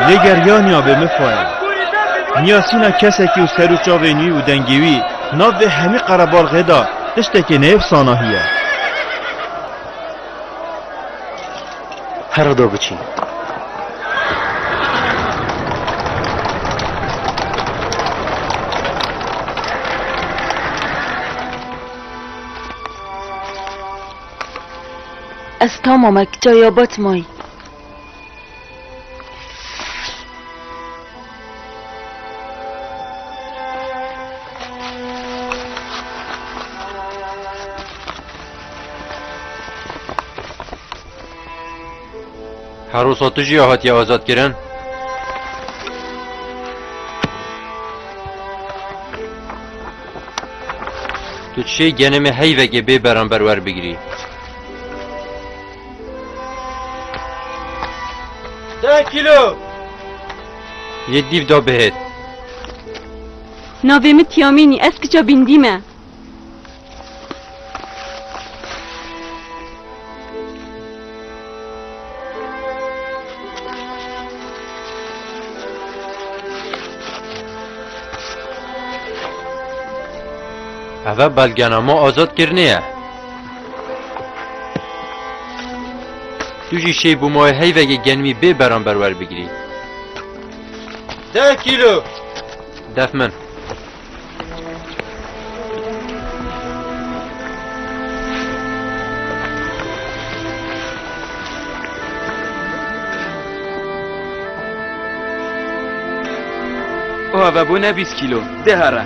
Lê ger ya niya bê min xwe ye. Niya sîna kesekî û ser û çavên wî û dengê wî nav vê hemî qerebalxê de tiştekê neyefsana hî ye. Here do biçîn. Ez tamam e, kicaya bat may. Herosa tu jî hatiye azadkirin? Tu çê genê me heyvekê bê beramber werbigirî. Deh kîlo. Yê dîv da bihêt. Navê min Tiyamînî, ez kiça Bîndî me. Eve belgenama azad kirnê ye. Tu jî şêy bû mayê heyvegê genimî bê beramber werbigirî. Deh kîlo. Def min. Ava bûne bîst kîlo. Deh ara.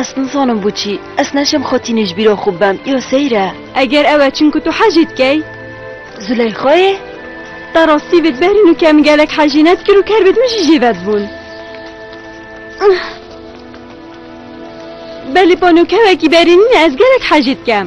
Ez nizanim bû çî ez neşem xotînê ji bîra xwe bim îro seyr e. Eger ew e çimku tu hecî dikey. Zûleyxayê? Ta rastî vê diberîn û ke min gelek hecî nedikir û ker bê di min jî jê vedibûn. Belê panokewekî berînîne ez gelek hecî dikem.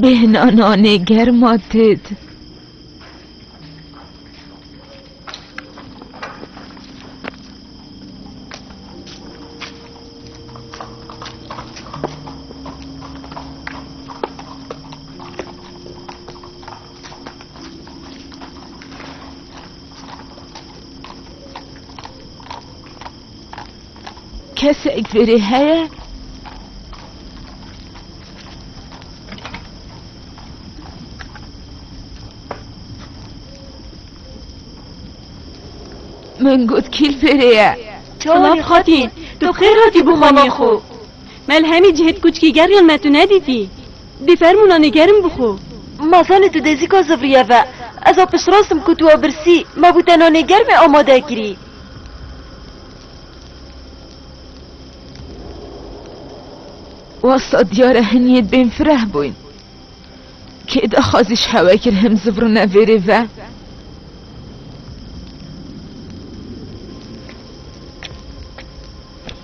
Bêhna nanê germa têt. Kesek verê heye? Min got kîl verê ye. Çolak xatî, tu xêr hatî bo xanê xwe. Melhemî cihêt kuçkî ger yên me tu nedîtî. Dê fermûnanê germ bixwe. Ma zanê tu dê zîka zivriye ve. Ez a piştrast im ku tu a birsî, ma bû te nanê germê amade kirî. Wasta diyar e hin yê bên fireh bûyn. Kê daxwazî ji hewe kir him zivrine vêrê ve?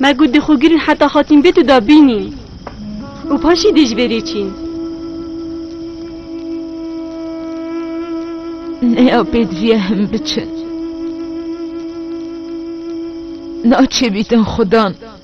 Me got dê xwe girîn heta hatîn vê tu de bînîn û paşî dê ji vê rê çîn. Neya pêdiviye him biçin. Naçêbîtin xwe dan.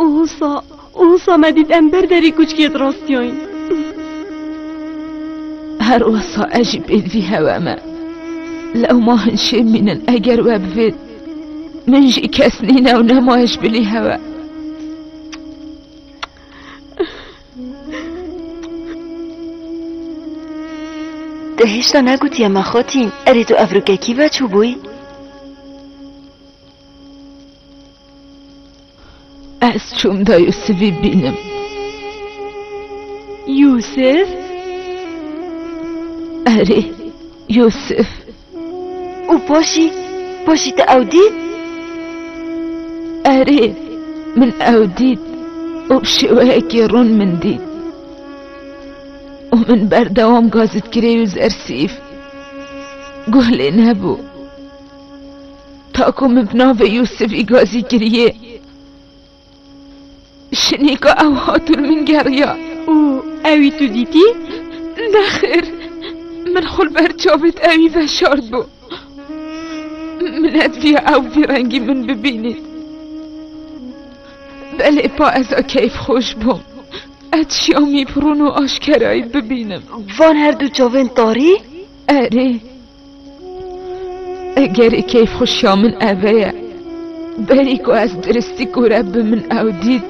Û husa, û husa me dît em ber derî kuçkiyê dirastiyayin. Her wesa ez jî pê divî hewe me. Lewma hin şêm mînin eger we bivêt. Min jî kes nîne û nema ez bilî hewe. Te hêşta negotiye me xotîn, erê tu evrûkekî veçûbûyî? Ez çûm da Yûsivî bînim. Yûsiv? Erê, Yûsiv. Û paşî, paşî te ew dît? Erê, min ew dît û bi şêweyekî rûn min dît. Û min berdewam Gazîtkirê û Zersîf guh lê nebû. Ta ku min bi navê Yûsifî gazî kiriye, jinêka ew hat û li min geriya. Û ewî tu dîtî? Nexir, min xwe li ber çavê te wî veşartbû. Minet viya ew vî rengî min bibînît. Belê pa ez a keyfxweş bûm. Ez Şamî bi rûn û aşkerayî bibînim. Van her du çavên tarî? Erê. Eger keyfxweşiya min eve ye, berî ku ez diristî kûre bi min ew dît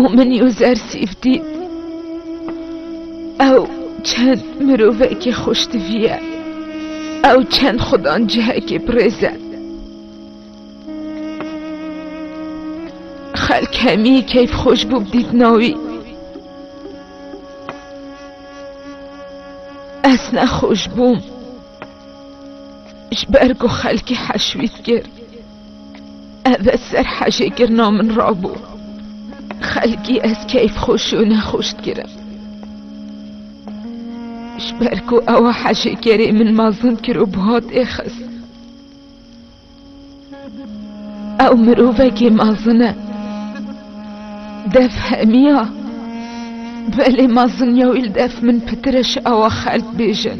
û min User Sîf dît. Ew çend mirovekî xweştivî ye. Ew çend xwe dan cihekî pirêz e. Xelk hemî keyfxweş bû bi dîtina wî. Ez nexweş bûm ji ber ku xelkê heşwît kir ev e ser hejêkirina min rabû xelkî ez keyfxweş û nexweş dikirim ji ber ku ew hejêkerê min mezin kir û bi hatê xist Ew mirovekê mezin e. Dev hemiya. Belê mezin ya wî li dev min pitir e ji awa xelk bêjin.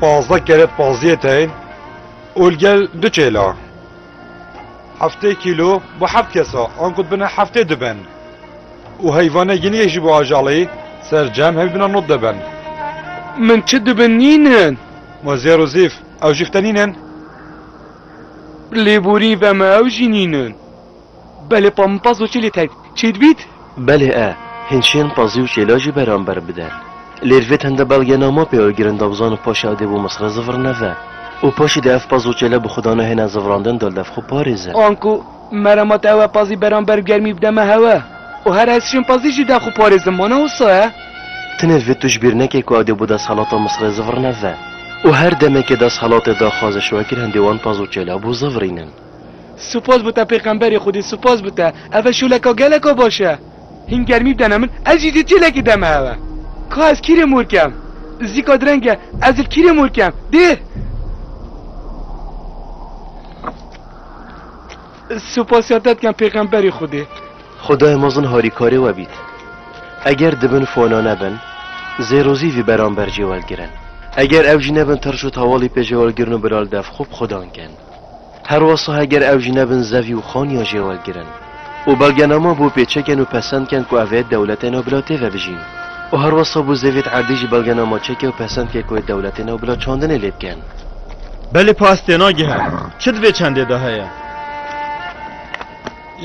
Pazdeh kere paziyê teyên û li gel du çêla. Heftê kîlo bo heft kes a, anku dibine heftê du bin. Û heyvanê giniyê jî bo ajalî sercem hemî bina nod de bin. Min çi du bin nînin? Ma zêr û zîf, ew jî fte nînin? Lêborî ve me ew jî nînin. Belê pampaz û çêlê teg çê dibît? Belê e, hîn çên pazî û çêla jî beramber bide. Lêr vê tende belge nama pê Oygirên Dawzan û paşê Adê bo Misrê zivr neve. Û paşê dê ev paz û çêle bi xwe da nehêne zivrandin dol dev xwe parêze. Anku merama te ewe pazî beramber germî bide me hewe. Û her ez çên pazî jî dev xwe parêzim mana wisa ye? Tenê vê tu ji bîr neke ku Adê bo desthelata Misrê zivr neve. Û her demekê desthelate daxwaziş wekir hindê wan paz û çêla bo zivrînin. Spas bû te pêxemberê Xwedê spas bû te eve şoleka geleka baş e. Hîn germî bidene min ez jî dê çêlekê deme eve. Ka ez kîrê mor kem. Zîka direng e ez li kîrê mor kem. Dê. Spasya te dikem pêxemberê Xwedê. Xwedayê mezin harîkarê we bît. Eger di bin fona nebin zêrozî vî beramber jê welgirin. Eger ew jî nebin tirş û tawalî pê jêwelgirin û bila li dev xwe bi xwedan kin. Her wasa heger ew ji nebin zevî û xaniya jê wergirin û belgenama bo pêçeken û pesend ken ku evê dewletê ne bila tê ve bijîn û her wasa bo zevît erdî ji belgenama çeke û pesend ke ku ê dewletê ne bila çandinê lê bikin. Belê pas têna gihe. Çi di vê çendê de heye?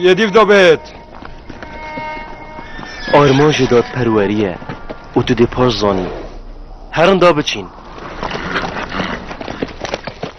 Yê dîv de bêt. Armanc ê dadperwerî ye û tu dê pas zanî. Herin da biçîn.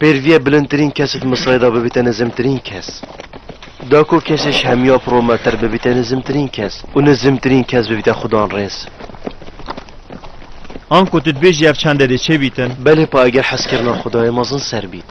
Pêrvîyê bilindtirîn kesê di Misirê de bibîte nizimtirîn kes. Da ku kesê ji hemîya pir û metir bibîte nizimtirîn kes û nizimtirîn kes bibîte xwidanrêz. Anku tu dibêjî ev çende dê çê bîtin? Belê pa eger hezkirina xwidayê mezin ser bît.